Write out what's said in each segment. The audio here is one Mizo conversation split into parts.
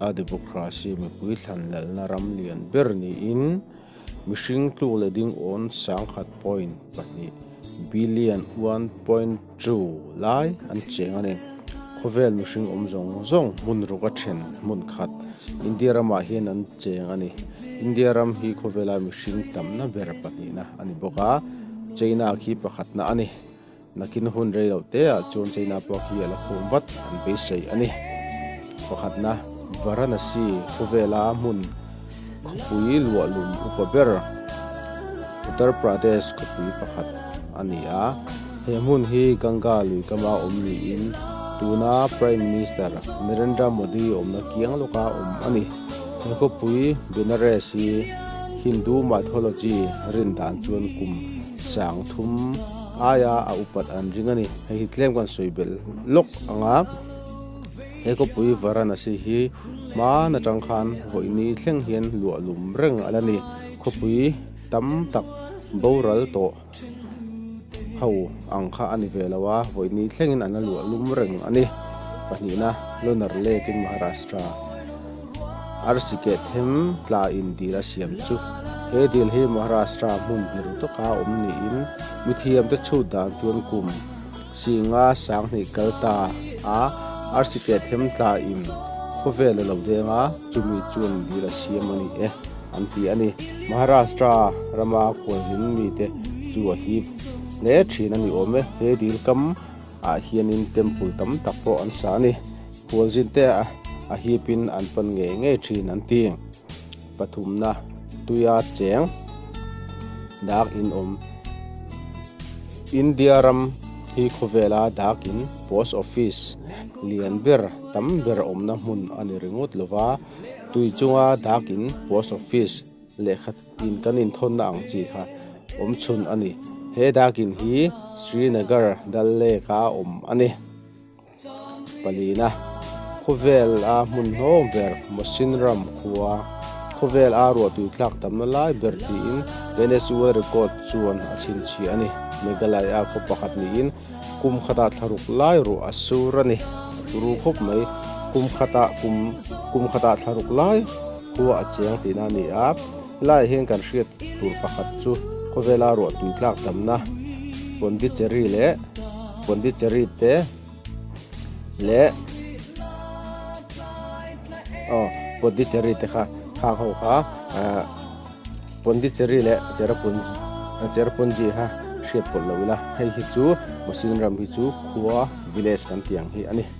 A democracy mipui thlanlalna ram lian ber niin mihring tluk leh dingawn sangkhat point pahnih, billion one point two, lai an cheng a ni. Khawvel mihring awm zawng zawng hmun ruk a then hmun khat India ramah hian an cheng a ni. India ram hi khawvela mihring tamna ber pahnihna a ni bawk a, China khi pakhatna a ni. Nakin hun rei loh te ah chuan China pawh khi ala khum vat an beisei a ni. Pakhatna, Varanasi khawvel a hmun khawpui luahlum upa ber Uttar Pradesh khawpui pakhat a ni a, he hmun hi Ganga lui kama awm niin tuna Prime Minister Narendra Modi awmna kiang lawka awm a ni. He khawpui Benares hi Hindu mythology rindan chuan kum sangthum, aia a upat an ring a ni. Hei hi tlem kan sawi belh lawk ang a, he khawpui Varanasi hi hman atang khan vawini thleng hian luah lum reng a la ni. Khawpui tam tak boral tawh ho ang kha a ni ve lo a, vawini thlengin an la luah lum reng a ni. Pahnihna, Lunar Lake in Maharashtra. Arsi kehthem tla in dil a siam chu. He dil hi Maharashtra hmun biru taka awm niin mithiam te chhut dan chuan kum singa sanghnih kal ta a arsi kehthem tla in khawvel a lo deng a, chumi chuan dil a siam a ni e an ti a ni. Maharashtra rama kualrin mite chu a hip hle thin a ni awm e. He dil kam ah hianin temple tam tak pawh an sa a ni. Hualzinte a a hip in an pawn ngei ngei thin an ti. Pathumna, Tuia cheng dak in awm. India ram hi khawvela dak in post office lian ber tam ber awmna hmun a ni ringawt lo va. Tui chunga dak in post office lehkha in kan in thawn na ang chi kha awm chhun a ni. He dak in hi Srinagar dal lek a awm a ni. Pali na khawvel a hmun hnawng ber Mosin ram khua khawvel a ruahtui thlak tam na lai ber tiin Guinness World Record chuan a chhinchhiah a ni. Meghalai a khaw pakhat niin kum khata thlaruk lai ruah a sur a ni. Ru khawp mai kum khata kum khata thlaruk lai khua a chiang tihna a ni a. Helaiah hian kan hriat tur pakhat chu khawvela ruahtui tlakdamna Pondicherry leh Pondicherry te leh aw Pondicherry te kha khang ho kha Pondicherry leh Cherrapunji Cherrapunji kha hriat pawlh lo ila hei hi chu Mosin ram hi chu Khua village kan tih ang hi a ni.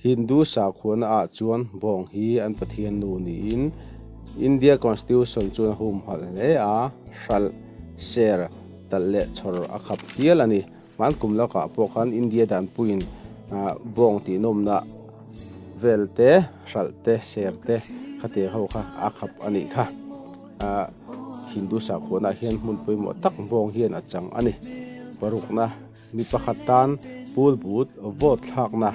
Hindu sakhuana ah chuan bawng hi an pathian nu niin India Constitution chuan a hum halh hle a, hralh, ser, talh leh chhawr a khap hial a ni. Hmaan kum lakah pawh khan India danpuiin bawng tihnawmna vel te, hralh te, ser te kha te ho kha a khap a nih kha. Hindu sakhuana ah hian hmun pawimawh tak bawng hian a chang a ni. Parukna. Mi pakhat tan Pool Boot vote thlakna,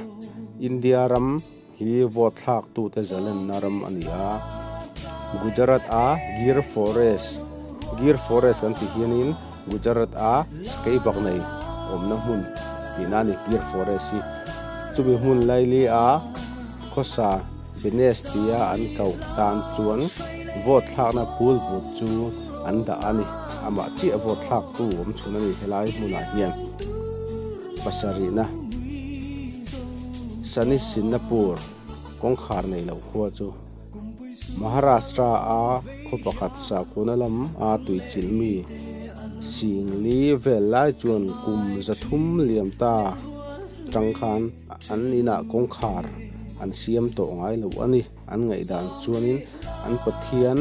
India ram hi vote thlak tute zalenna ram a ni a. Gujarat a Gir Forest, Gir Forest kan tih hianin Gujarat a sakei bak nei awmna hmun tihna a ni Gir Forest hi. Chumi hmun Laili a khawsa. Benes tia an koh tan chuan vote thlakna pool but chu an dah a ni. Amah chiah vote thlaktu awmchhun a nih helai hmunah hian pasarihna Sani Sinnapur kawngkhar nei loh khua chu Maharashtra a khaw pakhat sakuna lam a tui chilh mi Singli vel lai chuan kum za thum liam ta tang khan An inah kawngkhar an siam tawh ngai lo a ni. An ngaihdan chuanin an pathian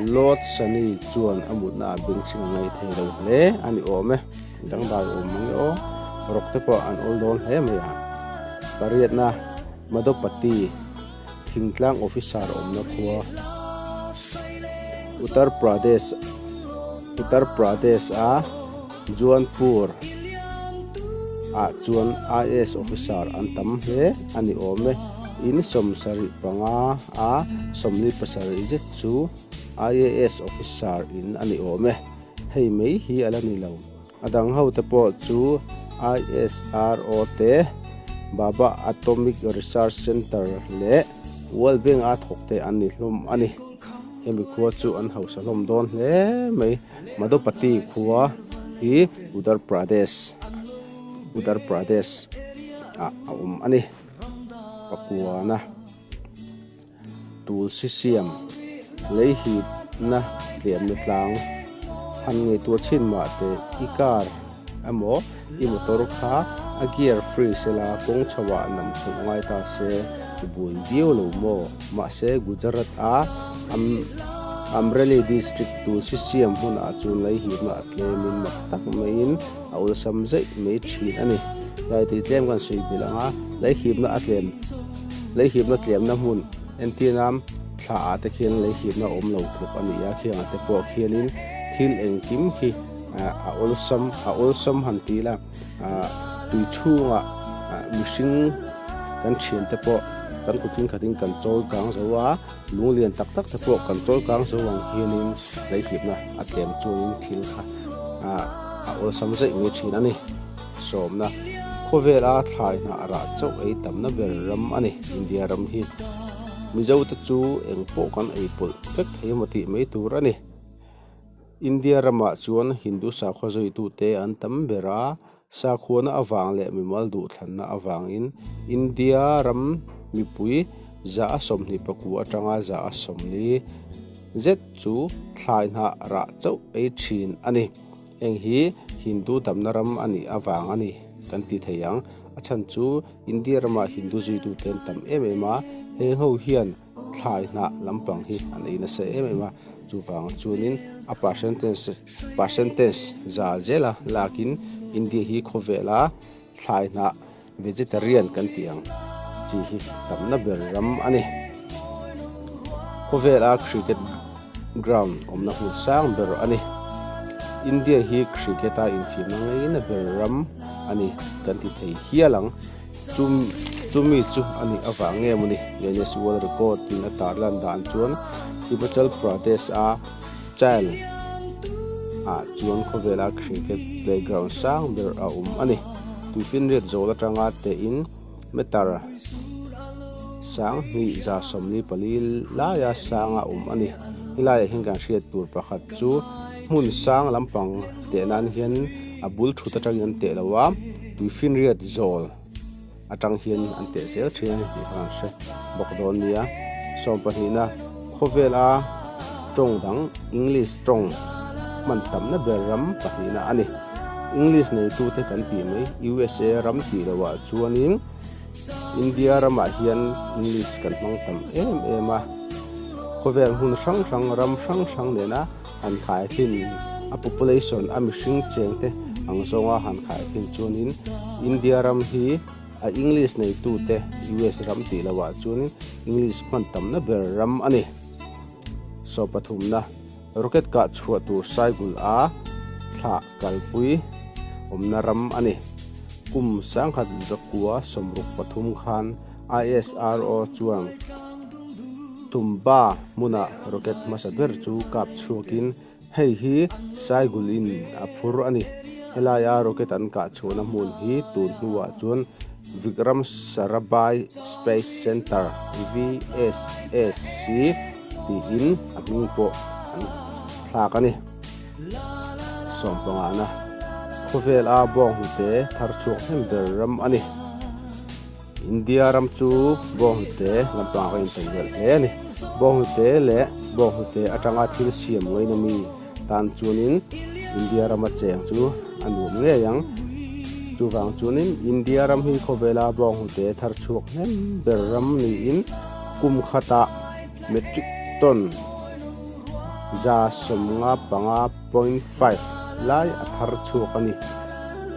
Lord Sani chuan a mutna ah bengchhing a ngaih thei lo hle a ni awm e. Dangdai awm mang e aw, rawk te pawh an awl dawn hle mai a. Pariatna Madhopati thingtlang officer awmna khua Uttar Pradesh Uttar Pradesh a. Jaunpur ah chuan IAS officer an tam hle a ni awm e. In sawm sarih panga a sawmli pasarih zet chu IAS officer in a ni awm e. Hei mai hi a la ni lo. A dang ho te pawh chu ISRO te, Bhabha Atomic Research Center leh World Bank a thawkte an ni hlawm a ni. Hemi khua chu an hausa hlawm dawn hle mai. Madhopati khua hi Uttar Pradesh, Uttar Pradesh, ah a awm a ni. Pakuana Tulsi siam lei hipna tliamna tlang han ngeitur chin mahte i kar. Emaw, i motor kha a gear free se la, kawng chho ah nam chhoh ngai ta se i buai viau lo maw? Mahse, Gujarat a Amreli district tulsi siam hmun ah chuan lei himna a tlem in mak tak mai in a awlsam zeih mai thin a ni. Daitei tlem kan sawi bil ang a, lei himna a tlem lei himna tlemna hmun Entianam thla ah te khian lei himna a awm lo thluk a ni a, khiang ah te pawh khian in thil engkim hi A awlsam, a awlsam han ti la, tui chhungah mihring kan thian te pawh kan kut in khatin kan chawl kang zo a, lung lian tak tak te pawh kan chawl kang zo ang hianin hleihhipna a tlem chuangin thil kha a awlsam zeih mai thin a ni. Sawmna, khawvela thlai hna a rah chauh ei tamna ber ram a ni. India ram hi Mizote chu engpawh kan ei pawlh vek thei emaw tih mai tur a ni. India ramah chuan Hindu sakhua zawitute an tam ber a, sakhuana avang leh mimal duhthlanna avangin India ram mipui za a sawmhnih paku atanga za a sawmli zet chu thlai hnah rah chauh ei thin a ni. Heng hi Hindu damna ram a nih avang a ni kan ti thei ang. A chhan chu India ramah Hindu zuituten tam em em a, he ho hian, thlai hnah lampang hi an ei nasa em em a chuvang chuanin a percentage percentage zal zela lakin india hi khawvela thlai hnah vegetarian kan tih ang chi hi tamna ber ram a ni khawvela cricket ground awmna hmun sang ber a ni india hi cricket a infiamna ngeina ber ram a ni kan ti thei hial ang. Chu chu mi chu a nih avang nge mawni? Guinness World Record in a tarlan dan chuan Himachal Pradesh a Chail ah chuan khawvela cricket playground sang ber a awm a ni. Tuifinriat zawl atanga tein meter sang hnih za sawmli pali laia sanga awm a ni. Helaiah hian kan hriat tur pakhat chu. Hmun sang lampang teh nan hian a bul thut atangin an teh lo a, tui finriat zawl atang hian an teh zel thin a ni tih khan an hre bawk dawn a nia. Sawm pahnihna khawvela tawng dang English tawng hman tamna ber ram pahnihna a ni. English neitute kan tih mai usa ram tih loah chuanin India ramah hian English kan hmang tam em em a. Khawvel hmun hrang hrang ram hrang hrang nena han khai hlim a population a mihring cheng te ang zawnga han khai hlim chuanin India ram hi a English neitu te US ram tih lovah chuanin English hman tamna ber ram a ni so pathumna rocket kah chhuah tur saigul a thla kalpui awmna ram a ni kum sangkhat zakua sawmruk pathum khan ISRO chuan tumba hmunah rocket hmasa ber chu kap chhuakin hei hi Saigul in a phur a ni. Helaia rocket an kah chhuahna hmun hi tun hnuah chuan Vikram Sarabhai Space Centre, VSSC, tiin a hming pawh an thlak a ni. Sawmpangahna khawvela bawnghnute thar chhuak hnem ber ram a ni. India ram chu Bawnghnute lampang a intawn rial hle a ni. Bawnghnute leh Bawnghnute atanga thil siam ngaina mi tan chuanin India rama cheng chu a nuam ngei ang. Chuvang chuanin India ram hi khawvela Bawnghnute thar chhuak hnem ber ram niin kum khata metric ton za sawmnga panga, Point five lai a thar chhuak a ni.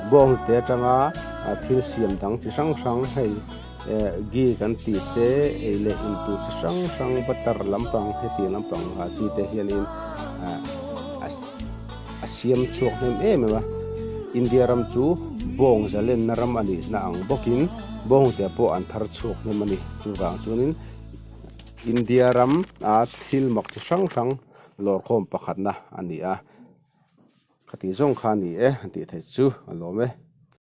Bawngte atanga thil siam dang chi hrang hrang hei Gi kan tih te ei leh in tur chi hrang hrang butter lampang hetiang lampang ha chi te hianin a siam chhuak hnem em em a. India ram chu bawng zalenna ram a nihna ang bawkin bawngte pawh an thar chhuak hnem a ni. Chuvang chuanin India ram a thil mak chi hrang hrang. Lawrkhawm pakhatna a ni a, ka tih zawng kha a ni e, a tih theih chu alawm e.